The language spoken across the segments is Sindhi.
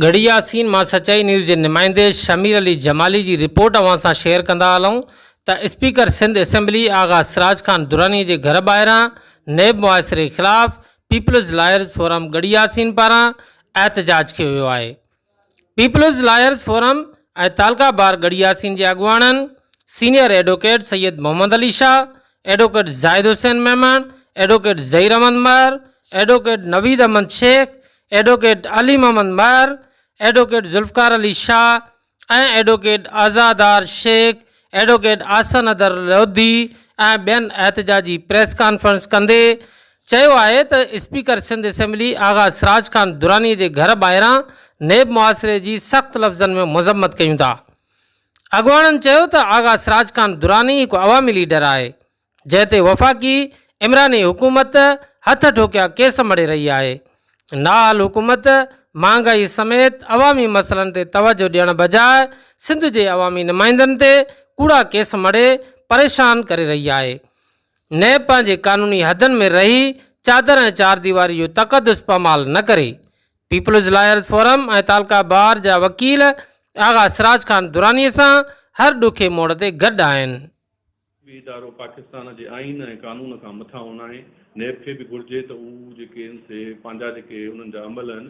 ڳڙهي ياسين مان سچائي نيوز جي نمائندي شمير علي جمالي جي رپورٽ اوهان سان شيئر ڪندا هلون ته اسپيڪر سنڌ اسيمبلي آغا سراج خان دراني جي گهر ٻاهران نيب محاصري خلاف peoples lawyers forum Garhi Yasin پاران احتجاج ڪيو ويو آهي پيپلز لائرز فورم ۽ تعلقه بار ڳڙهي ياسين جي اڳواڻن senior advocate Syed Muhammad Ali Shah advocate Zahid Hussain Memon advocate Zaheer Ahmed مهر ايڊوڪيٽ نويد احمد شيخ ايڊووڪيٽ علي محمد مهر، advocate Zulfiqar Ali Shah ۽ advocate Azadar Sheikh, advocate Ahsan Haider Lodhi ۽ ٻين احتجاجي پريس ڪانفرنس ڪندي چيو آهي ته اسپيڪر سنڌ اسيمبلي آغا سراج خان دراني جي گهر ٻاهران نيب محاصري جي سخت لفظن ۾ مذمت ڪيون ٿا. اڳواڻن چيو ته آغا سراج خان دراني هڪ عوامي ليڊر آهي. جنهن تي وفاقي عمراني حڪومت هٿ ٺوڪيا ڪيس مڙهي رهي آهي. نااهل حڪومت مهانگائي سميت عوامي مسئلن تي توجهه ڏيڻ بجاء سنڌ جي عوامي نمائندن تي ڪوڙا ڪيس مڙهي پريشان ڪري رهي آهي. نيب پنهنجي قانوني حدن ۾ رهي چادر ۽ چارديواري جو تقدس پامال نه ڪري. پيپلز لائرز فورم ۽ تعلقه بار جا وڪيل آغا سراج خان دراني سان هر ڏکي موڙ تي گڏ آهن. هي ادارو پاڪستان جي آئين ۽ قانون کان مٿان هو ناهي، نيب کي به گهرجي ته هو جيڪي ان سي پنهنجا جيڪي انهن جا عمل آهن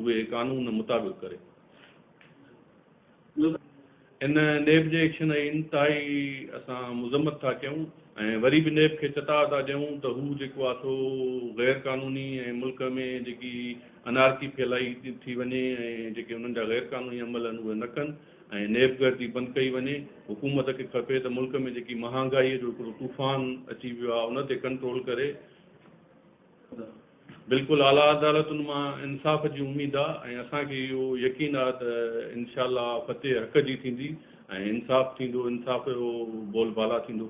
اهي قانون مطابق ڪري. ان نيب جي ايڪشن اي انتهائي اسان مذمت ٿا ڪيون ۽ وري به نيب کي چتاء ٿا ڏيون ته هو جيڪو آ سو غير قانوني ۽ ملڪ ۾ جيڪي انارڪي ڦهلائي ٿي وڃي ۽ جيڪي انهن جا غير قانوني عمل آهن اهي نه ڪن. ۽ نيب گردي بند ڪئي وڃي، حڪومت کي کپي ته ملڪ ۾ جيڪي مهانگائي جو هڪڙو طوفان اچي ويو آهي ان تي ڪنٽرول ڪري، بلڪل اعليٰ عدالتن مان انصاف جي اميد آهي ۽ اسان کي اهو يقين آهي ته انشاء الله فتح حق جي ٿيندي ۽ انصاف ٿيندو، انصاف جو بول بالا ٿيندو.